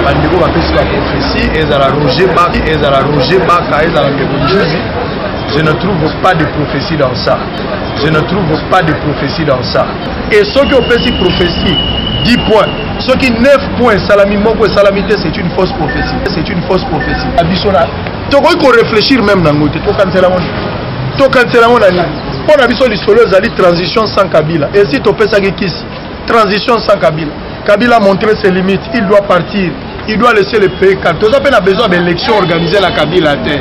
bandeko bapesi baprofesi ezala roger baka ezala roger baka ezala ndeko juzi je ne trouve pas de prophétie dans ça je ne trouve pas de prophétie dans ça et soki opesi prophétie 10 points soki 9 points esalami moko esalami te c'est une fausse prophétie c'est une fausse prophétie abiso na tokoki ko réfléchir même na yango te tokanisela yango tokanisela yango na nini mpo na biso lisolo ezali transition sans kabila esi topesaki kisi transition sans kabila kabila montre ses limites il doit partir il doit laisser le pays calme toza mpe na besoin baélection organisé na kabila te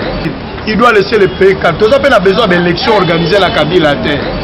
il doit laisser le pays calme toza mpe na besoin baélection organisé na kabila te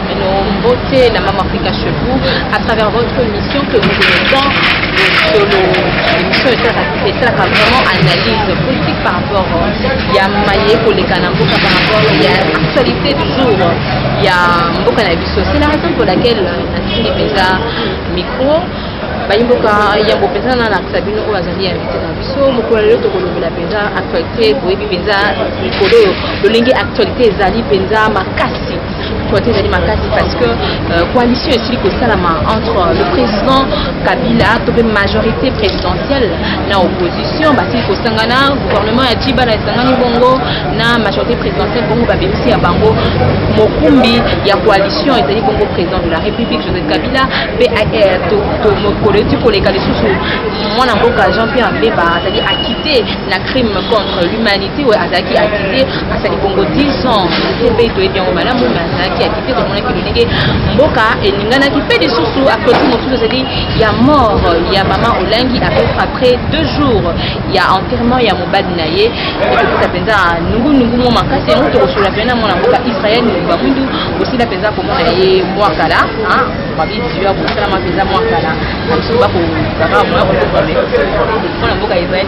beauté, la maman Africa chez vous, à travers votre émission que vous aimez tant, l'émission est là vraiment analyse politique par rapport il y a maye koleka na mboka par rapport il y a actualité du jour il y a mboka na biso c'est la raison pour laquelle natindi mpenza micro bayi mboka yambo mpenza na lakisa bino oyo azali invité na biso mokolo lelo tokolobela mpenza actualité boyebi mpenza mikolo oyo lolenge actualité ezali mpenza makasi Souffrance ezali makasi parce que euh, coalition esili kosalama entre euh, le président Kabila to mpe majorité présidentielle na opposition basili kosangana gouvernement ya Djiba na esangani bongo na majorité présidentielle bongo babebisi ya bango mokumbi ya coalition ezali bongo président de la République Joseph Kabila mpe mokolo eti koleka lisusu mwana mboka Jean-Pierre Mbemba azali acquitté na crime contre l'humanité siwe azalaki akite asali bongo 10 ans na cpi toyebi yango malamu me azalaki akite tomonaki lolenge mboka elinganaki mpe lisusu akosi mosusu ezali ya mort ya mama olangi après deux jours ya enterrement ya mobali na ye ekopesa mpenza nungunungu mwa makasi yango tokosolola mpenza na mwana mboka israel mobimba mwindu osila mpenza komona ye mwa kala babidisio ya kosalama mpenza mwa kala na biso bakokaka mwa kokomana mwana mboka israel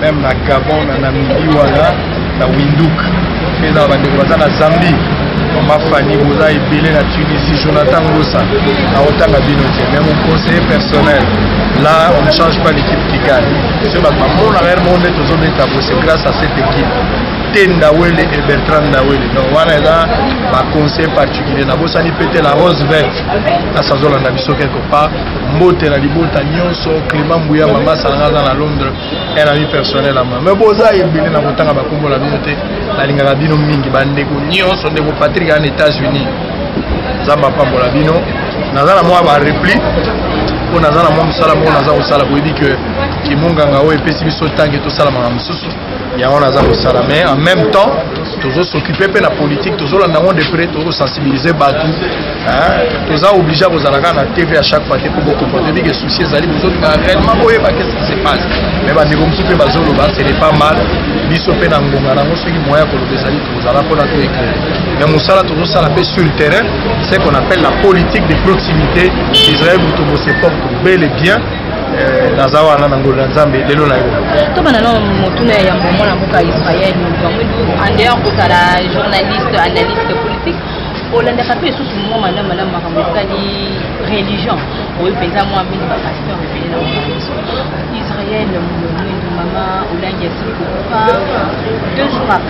meme na gabon na namibie wana na winduk mpe eza na bandeko baza na zambie mama fani boza ebele na tunisie jonathan ngosa naotanga bino te mais mon conseiller personnel là on ne change pas l'équipe qui gagne soki bato bamonaka yere moko nde tozobeta bo c'est grâce à cette équipe te ndawele et bertrand ndawele donc wana eza baconseil particulier nabosani pete la rose verte kasi azolanda biso quelque part mbote na libota nyonso clément mbuya mama asalanga aza na londres un ami personnel ama mais boza ebele na kotanga bakombo na bino te nalingaka bino mingi bandeko nyonso ndeko patrik an états-unis nzambe apambola bino naza na mwa barepli mpo naza na mwa mosala moko naza kosala boyebi ke kimonganga oyo epesi biso ntange tosalamaka mosusu yango naza kosala mais en même temps tozo s'occuper mpe na politique tozolanda yango de près tozosensibilize bato toza oblige kozala kaka na tv à chaque fois te mpo bokomprendre bike souci ezali bozolinga réellement boyeba qu'est ce qui se passe mais bandeko mosusu mpe bazoloba ce n'est pas mal biso mpe na ngonga nango soki moyen ya koloba ezali tozala mpona to éclaire mais mosala tozosala mpe sur le terrain ce qu'on appelle la politique de proximité israel moto mose porte bel et bien Eh, naza wana na ngolu na nzambe lelo na yo tobana na motuna ya yambo mwana mboka israel bango andeya kozala journaliste analyste politique olandaka mpe lisusu mwa malamu malamu makambo etali religion oyo mpenza mwa mingi bapasteur ebele na mokanso israel mwindo mama olangi asili kokufa deux jours après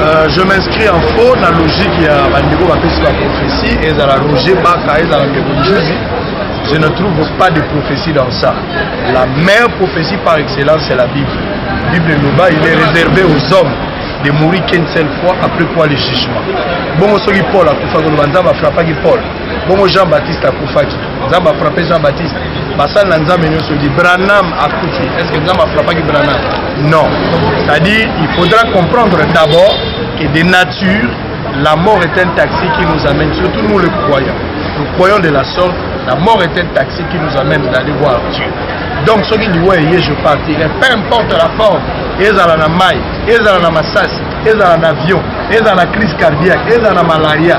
Euh, je m'inscris en faux na logique ya bandeko bapesi baprophétie ezala roger baka ezala ndeko njuzi je ne trouve pas de prophétie dans ça la meilleure prophétie par excellence c'est la bible bible eloba il est réservé aux hommes de mourir qu'une seule fois après quoi le jugement bongo soki paul akufaki oloba nzambe afrapaki paul bongo jean baptiste akufaki nzambe afrape jean baptiste basali na nzambe nyonso di branam akufi est ce que nzambe afrapaki branam non c'est à dire il faudra comprendre d'abord que de nature la mort est un taxi qui nous amène surtout nous les croyants nous croyons de la sorte la mort est un taxi qui nous amène d'aller voir dieu donc soki liwa eye je partirai peu importe la forme ezala na mai ezala na masasi ezala na avion ezala na crise cardiaque ezala na malaria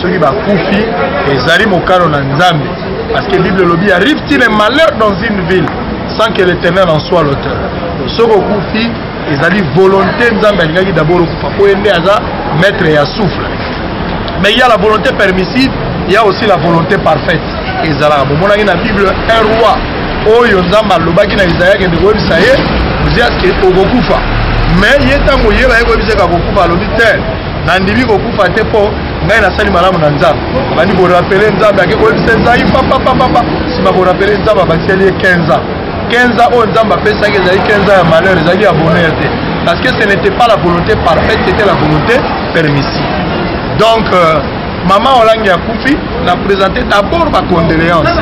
soki bakufi ezali mokano na nzambe parce que bible elobi arrive-t-il un malheur dans une ville sans que l'éternel en soit l'auteur soki okufi ezali volonté nzambe alingaki d'abord okufa mpo ye nde aza maître ya souffle mais ya la volonté permissive ya aussi la volonté parfaite ezalaka bomonaki na bible un roi oyo nzambe alobaki na isaya kende koyebisa ye oziaske okokufa mais ye ntango yeba ye koyebisa ye kakokufa alobi te nandimi kokufa te mpo ngai nasali malamu na nzambe abandi korapele nzambe ake koyebisa ezai papapapapa nsima korapele nzambe abakiseli ye 15 ans 15 ans oyo nzambe apesaki ezali 15 ans ya malheur ezali ya bonheur te parce que ce n'était pas la volonté parfaite c'était la volonté permissive donc euh, mama olangi akufi na présente d'abord bacondoléance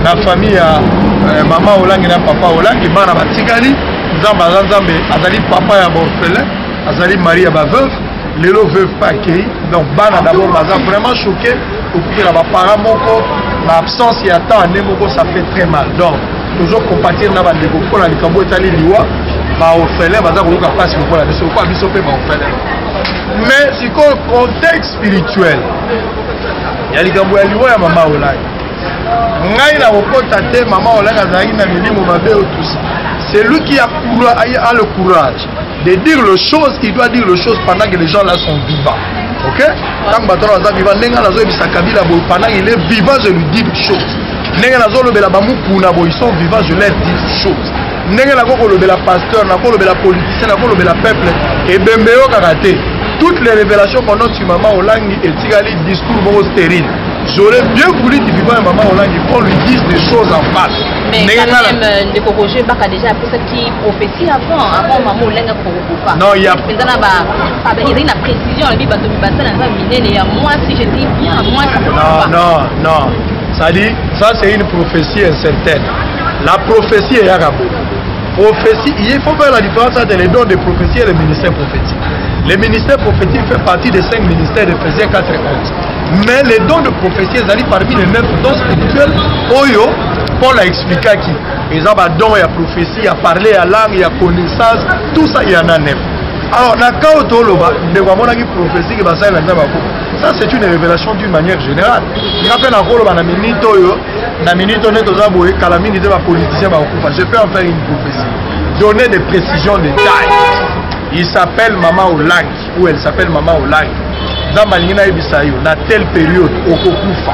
na famille ya euh, mama olangi na papa olangi bana batikali nzambe aza nzambe azali papa ya baorphelin azali mari ya baveuve lelo veuve pa akei donc bana d'abord baza vraiment choqué okutela baparent moko na absence ya temps ane moko ça fait très mal donc tozo compatir na bandeko mpo na likambo etali liwa baorphelin baza koyoka mpasi lokola biso lokola biso mpe baorphelin mais sikoyo contexte spirituel ya likambo ya liwa ya mama olai ngai nakokota te mama olai azalaki na milimo mabe otusi celui qui a, a, a le courage de dire le chose il doit dire le chose pendant que les gens là sont vivants ok ntango bato wana baza vivant ndenge nazoyebisa kabila boye pendant il est vivant je lui dis des choses ndenge nazolobela bamukuna boye ils sont vivants je leur dis des choses ndenge nakokolobela pasteur nakolobela politicien nakolobela peuple ebembe eyokaka te toutes les révélations pendant tu maman olangi etikali discours moko stérile j'aurais bien voulu divivant ya maman olangi qu'on lui dise des choses en face ndenge nga na euh, ndeko roger baka déjà apesaki ti prophétie avant avant maman olenga kokokufa non ya mpenza na ba ezali na précision alobi bato mibasala eza minene ya mwasi je dis bien mwasi non non non sadi ça c'est une prophétie incertaine la prophétie eyaka boye prophétie il faut faire la différence entre les dons de prophétie et le ministère prophétique le ministère prophétique fait partie des cinq ministères de Phésiens 4 et 11 mais les dons de prophétie ezali parmi les neuf dons spirituels oyo paul a expliquaki eza ba don ya prophetie ya parler ya langue ya connaissance tout ça ya na nef alors na cas oyo toloba ndeko amonaki prophetie ke basali na nzambe akufa ça c'est une révélation d'une manière générale nga mpe nakoloba na minute oyo na minute oyo nde toza boye kala mingi te bapoliticien bakokufa je peux en faire une prophétie donner des précisions de taille il s'appelle mama olangi ou elle s'appelle mama olangi nzambe alingi nayebisa yo na telle période okokufa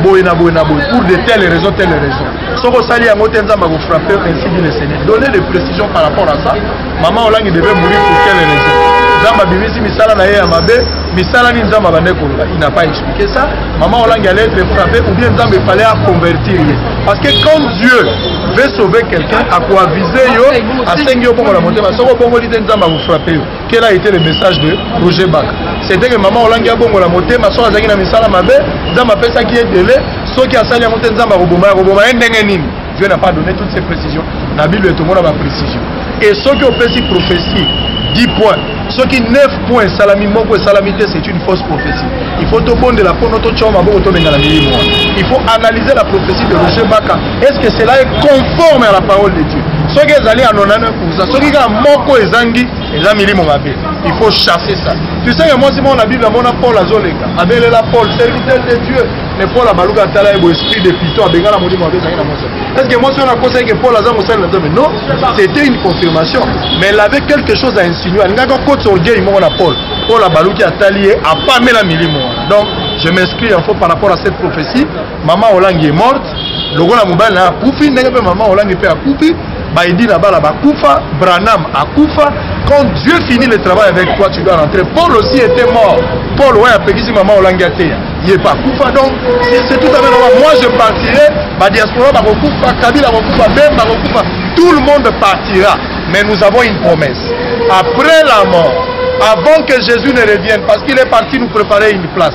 boye na boye na boye pour de telle raison telle raison soki osali yango te nzambe akofrappe ainsi dit le seigneur donner des précisions par rapport à ça mama olangi devait mourir pour quelle raison nzambe abimisi misala na ye ya mabe misala nini nzambe abande koloba il n'a pas expliqué ça mama olangi allait être frappé ou bien nzambe fallait aconvertir ye parce que quand dieu veut sauver quelqu'un akoavise yo asengi yo bongo na motema soki obongoli te nzambe akofrappe yo Quel a été le message de Roger Bak C'était que maman Olangi a bongo la moté, ma soeur azaki na misala mabe, Nzamba pesa qui est délai, ceux qui a sali en moté Nzamba roboma, roboma endenge nini Dieu n'a pas donné toutes ces précisions. La Bible est au monde ma précision. Et ceux qui ont fait ces prophéties, 10 points, ceux qui 9 points, salami moko salami te, c'est une fausse prophétie. Il faut tout bon de la peau, notre choma, bon, tout le monde. Il faut analyser la prophétie de Roger Baka. est ce que cela est conforme à la parole de dieu soki ezali ya 99 soki kaka moko ezangi eza milimo mabe il faut chasser ça tu sais que mwasi moko na bible amona paul azoleka abelela paul serviteur de dieu mais paul abaluka atala ye boesprit de piton abengana molimo mabe ezangi na mwasi est ce que mwasi wana akosaki ke paul aza mosali na nzambe non c'était une confirmation mais elle avait quelque chose à insinuer alingaki akotisa orgueil moko na paul paul abaluki atali ye apamela milimo wana donc je m'inscris en faux par rapport à cette prophétie mama olangi est morte lokola mobali na akufi ndenge mpe mama olangi mpe akufi baidi na bala bakufa branham akufa quand dieu finit le travail avec toi tu dois rentrer paul aussi était mort paul oyo apekisi mama olangi ateya ye mpe akufa donc c'est tout à fait normal moi je partirai badiaspora bakokufa kabila akokufa bemba akokufa tout le monde partira mais nous avons une promesse après la mort avant que Jésus ne revienne, parce qu'il est parti nous préparer une place.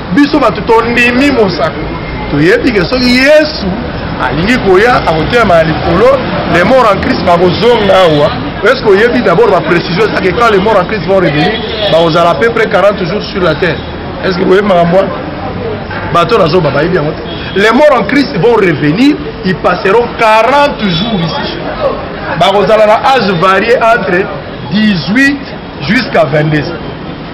biso bato tondimi mosaka toyebi ke soki yesu alingi koya akotelema na likolo les morts en christ bakozonga awa est-ce qu'oyebi d'abord ba précision ezaki quand les morts en christ vont revenir bakozala à peu près 40 jours sur la terre est-ce que boyebi makambo wana bato nazoba bayebi yango te les morts en christ vont revenir ils passeront 40 jours ici bakozala na âge varié entre 18 jusqu'à 22 ans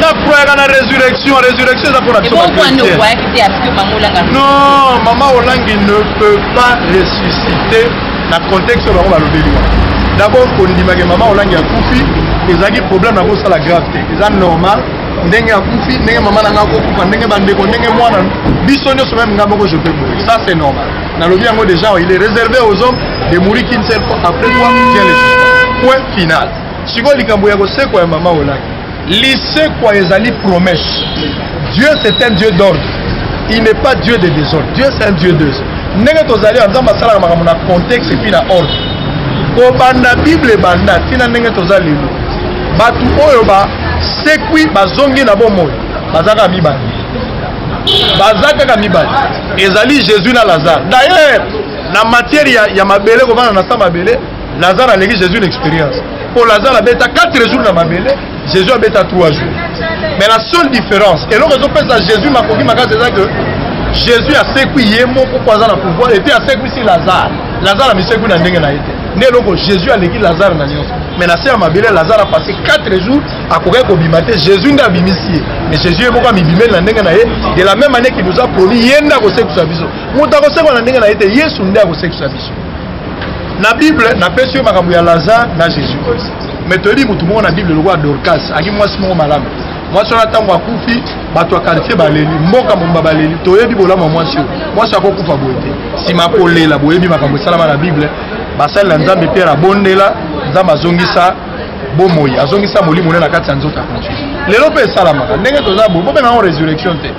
nakwayaka na résurrection résurrection eza mpona non mama olangi ne peut pas ressusciter na contexte oyo bango balobeli wana d'abord kondimake mama olangi akufi ezalaki problème na kosala grave te eza normal ndenge akufi ndenge mama na ngai akokufa ndenge bandeko ndenge mwana biso nyonso meme ngai moko je peux mourir ça c'est normal nalobi yango déjà il est réservé aux hommes de mourir qu'une seule fois après quoi Dieu les suspend point final sikoyo likambo ya kosekwa ya mama olaki lisekwa ezali promesse Dieu c'est un Dieu d'ordre il n'est pas Dieu de désordre Dieu c'est un Dieu de ndenge tozali ya nzambe asalaka makambo na contexte epuis na ordre kobanda bible ebanda ntina ndenge toza lelo bato oyo basekwi bazongi na bomoi bazalaka mibale baza kaka mibale ezali jésus na lazare d'ailleurs na matière ya, ya mabele kovanda na sa mabele lazare aleki jésus na expérience mpo lazare abeta 4 jours na mabele jésus abeta 3 jours mais la seule différence eloko ezopesa jésus makoki makasi eza que jésus asekwi ye moko mpo aza na pouvoir epuis asekwisi lazare lazare amisekwi na ndenge na ye te nde eloko jésus aleki lazare na nyonso mais na se ya mabele lazare apase 4 jours akokaki kobima te jésus nde abimisi ye mais jésus ye moko amibimeli na ndenge na ye de la même année qui nous a promis ye nde akosekwisa biso moto akosekwa na ndenge na ye te yesu nde akosekwisa biso na bible napesi yo makambo ya lazare na jésus christ mais toyebi motu moko na bible lokola dorcas aki mwasi moko malamu mwasi wana ntango akufi bato ya quartier baleli mboka momba baleli toyebi bolamu ya mwasi oyo mwasi akokufa boye te nsima akolela boyebi makambo esalama na bible basali na nzambe pierre abondela nzambe azongisa bomoi azongisa molimo ne na kati ya nzoto ya conscience lelo mpe esalamaka ndenge toza boye bobema yango résurrection te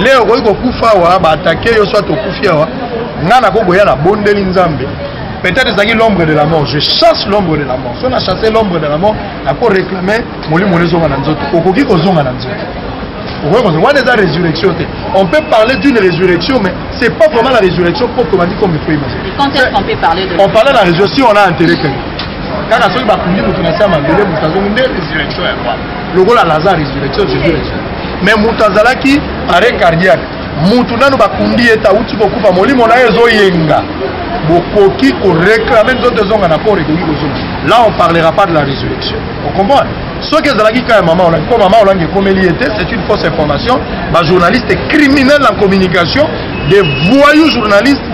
leo okoki kokufa awa baatake yo soit okufi awa ngai nakoki koya na bondeli nzambe peut-être ezalaki l'ombre de la mort je chasse l'ombre de la mort so na chasse l'ombre de la mort nako réclame molimo ne ezonga na nzoto okoki kozonga na nzoto okoki kozonga wana eza résurrection te on peut parler d'une résurrection mais c'est pas vraiment la résurrection propre comme il faut imaginer on parlait de la résurrection si on a enterré quelqu'un kaka soki bakundi moto na se ya mabele moto azongi nde résurrection ya roi lokola lazare résurrection jésus résurrection mais moto azalaki arrêt cardiaque moto nano bakundi ye te awuti kokufa molimo na ye ezoyenga bokoki koreklame nzoto ezonga na corps ekoki kozonga là on parlera pas de la résurrection ocomprendre soki ezalaki ka ya mama olangi mpo mama olangi ekomeli ye te c'est une fausse information bajournaliste criminel en communication des voyous journalistes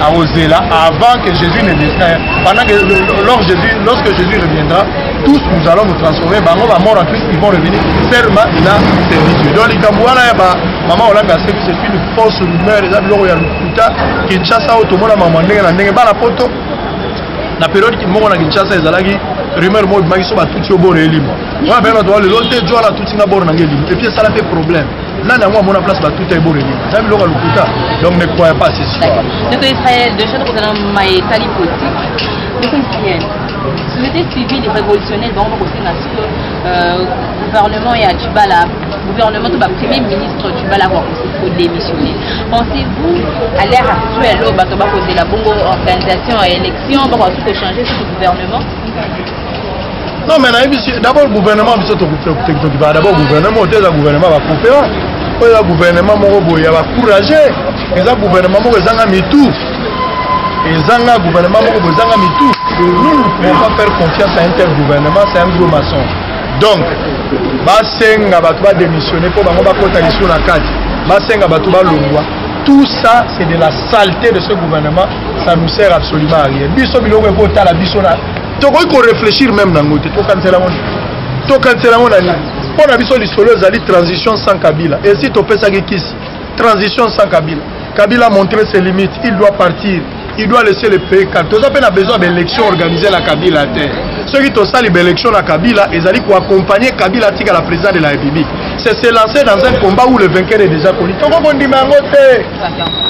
akozela avant que Jésus ne descende pendant que lors Jésus lorsque Jésus reviendra tous nous allons nous transformer bango ba mort en Christ ils vont revenir seulement na service donc likambo wana ya ba mama olanga aseki c'est une fausse rumeur eza biloko ya lokuta Kinshasa oyo tomona mama ndenge na ndenge bana poto na periode moko na Kinshasa ezalaki rumeur moko ebimaki so batuti yo boro elimo wana mpe bato balelo te jo wana atuti nga boro na nga elimo epuis esala mpe problème nani yango amona place batuta ye boreli na biloko ya lokuta donc ne croya pas ces histoires ndeko israel de chaque kozala maye etali politique ndeko israel société civile révolutionnaire bango bakosenga siko euh, gouvernement ya tshibala gouvernement to bapremier ministre tshibala kodémissionne pensez-vous à l'ère actuelle oyo bato bakozela bongo organisation ya élection bakoki kochanger ce gouvernement Non mais nayebi si d'abord gouvernement biso tokipaka d'abord gouvernement oyo te eza gouvernement bakopera oyo eza gouvernement moko boye ya bacourage eza gouvernement moko ezanga mitu ezanga gouvernement moko boye ezanga mitu nous ne pouvons pas faire confiance à un tel gouvernement c'est un gros maçon donc basenga bato badémissionne mpo bango bakota lisusu na kati basenga bato balongwa tout ça c'est de la saleté de ce gouvernement ça nous sert absolument à rien biso biloko ekotala biso na tokoki ko réfléchir même na yango te tokanisela yango tokanisela yango na nini mpo na biso lisolo ezali transition sans kabila esi topesaki kisi transition sans kabila kabila montre ses limites il doit partir il doit laisser le pays calme toza mpe na besoin ya baélection organisé na kabila te soki tosali baélection na kabila ezali koaccompagne kabila atika la président de la république c'est se lancer dans un combat où le vainqueur est déjà connu toko kondima yango te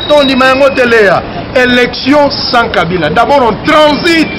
tondima yango te leya élection sans kabila d'abord on transite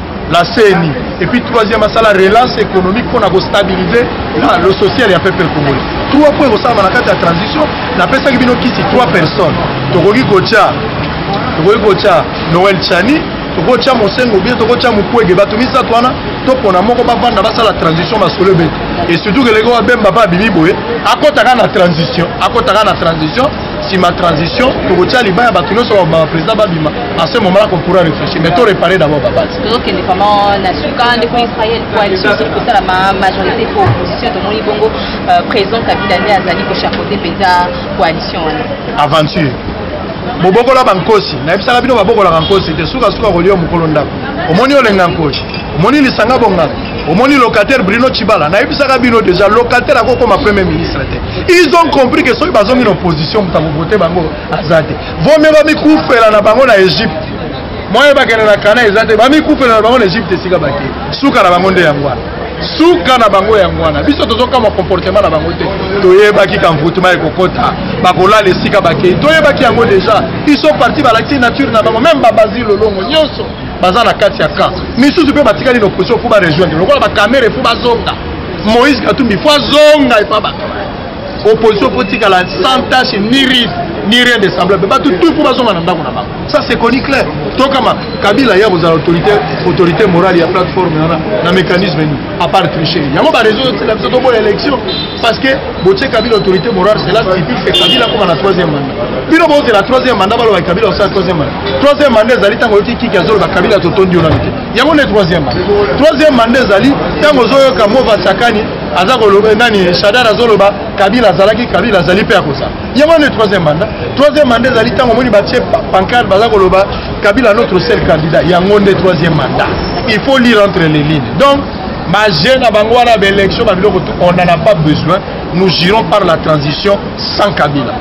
la CENI et puis troisième asala relance économique mpo na kostabilise na le social ya peuple congolais trois mpo ekosalama na kati ya transition napesaki bino kisi trois personnes tokoki kotya tokoki kotya noel chani tokotya mosengo bie tokotya mokwege bato misato wana topona moko bavanda basala transition masolo ebete et surtout keleki oyo abemba mpe abimi boye akotaka na transition akotaka na transition sima transition tokotia libaya bato nyonso baprésident babima à ce moment là qu'on pourra réfléchir mais to réparer d'abord babase tozokende vraiment na suka ndeko israel coalition soki kosalama majorité po opposition tomoni bongo euh, président kabila nde azali kochapeaute mpenza coalition wana aventure bobokola bankosi nayebisaka bino babokolaka nkosi te sukasuka kolia mokolo ndako omoni olenga nkosi omoni lisanga bonganga omoni locataire brino chibala nayebisaka bino deja locataire akokoma premier ministre te ils ont compris que soki bazongi na opposition moto akovote bango aza te vomie bamikufela na bango na egypte moye bakende na kana eza te bamikufela na bango na egypte esika bake suka na bango nde yango wana suka na bango yango wana biso tozokamwa comportement na bango te toyebaki kamvutuma ekokota bakolala esika bakei toyebaki yango deja iso parti balakisi nature na bango meme babazi lolongo nyonso baza na kati ya camp misusu mpe batikali na opposition fo barejoindre lokola bakamere fo bazonga Moïse Katumbi faut azonga epa bato opposition faut tikala sans tâche ni ride ni rien de semblable bato tout faut bazonga na ndako na bango ça c'est connu clair tokama kabila ya kozala autorité autorité morale ya plateforme wana na mécanisme nini à part tricher yango bareseau yosela biso toboya élection parce que botie kabila autorité morale cela signifie que kabila akoma na troisième mandat bino bozela troisième mandat baloba kabila osala troisième mandat troisième mandat ezali ntango oyoti kiki azoloba kabila totondi yo nano te yango nde troisième mandat troisième mandat ezali ntango ozoyoka mova sakani aza koloba eh, nani shadar azoloba kabila azalaki kabila azali mpe akozala yango nde troisième mandat troisième mandat ezali ntango omoni batie pancarte baza koloba kabila notre seul candidat yango nde troisième mandat il faut lire entre les lignes donc baje na bango wana baélection babiloko on n'en a pas besoin nous girons par la transition sans kabila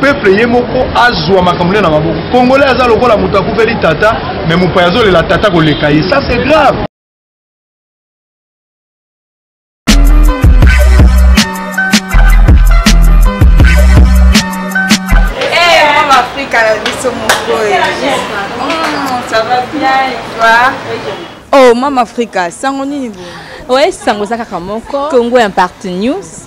peuple ye moko azwa makambo na maboko congolais aza lokola moto akufeli tata me mopaya azolela tata koleka ye ça c'est grave Oh, Mama Africa, sango nini bo? Ouais, sango za kaka moko. Congo Impact News.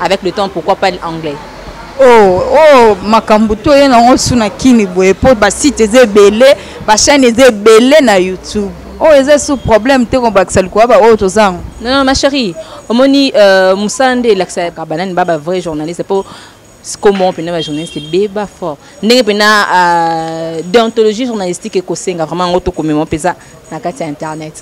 avec le temps pourquoi pas l'anglais oh oh makambo to ye nango su na kini boye mpo basite eza ebele bachaine eza ebele na youtube oyo oh, eza su problème te kobakisa likoya baoyo oh, toza yango non non ma chérie omoni euh, mosala nde elakisaka banani ba bavrai journaliste mpo sikomoko mpena bajournaliste ebeba fort ndenge mpena euh, deontologie journalistique ekosenga vraiment yango tokomema mpenza na kati ya internet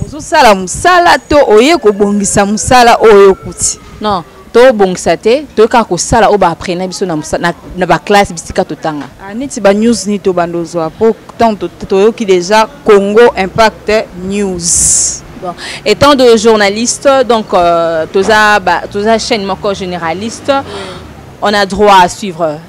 ozosala mosala to oye kobongisa mosala oyo okuti non tobongisa te toyei kaka kosala oyo baaprena biso na baklasse bisika totanga ah, neti banews nini tobanda ozwa mpo ntango toyoki déjà congo impact news Bon. Étant de journaliste, donc euh, tous à chaîne moko généraliste, on a droit à suivre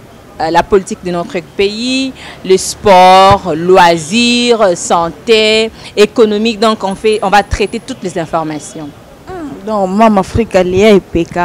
Euh, la politique de notre pays, le sport, loisirs, santé, économique. Donc on, fait, on va traiter toutes les informations. Ah, donc Mam Afrique Alia et PK,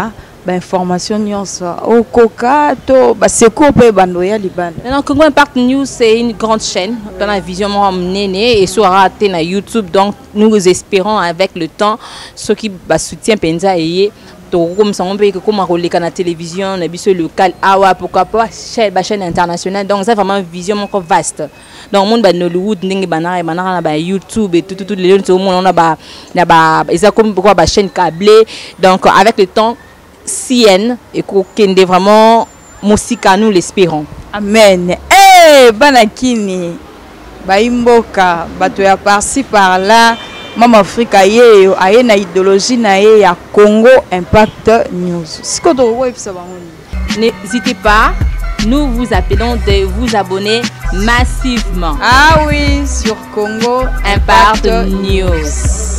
information nyonso okoka to baseko mpe bando ya libanda non congo impact news c'est une grande chaîne dans la vision moko monene et soit raté na youtube donc nous espérons avec le temps ceux qui soutien penza eye tokokomisa yango mpe ekokoma koleka na télévision na biso locale awa pourquoi pas bachaîne internationale donc eza vraiment vision moko vaste donc omoni ba nollywood ndenge banaka ebanaka na ba youtube etututu lelo nso omona ona ba na ba eza komi pourquoi bachaîne cable donc avec le temps cn ekokende vraiment mosika nous l'espérons amen hey, eh, bana kini bayimboka bato ya parci par là mama afrika yeyo aye na idéologie na ye ya congo impact news sikoyo tokokoyebisa bango nini n'hésitez pas nous vous appelons de vous abonner massivement ah oui sur congo impact, impact news.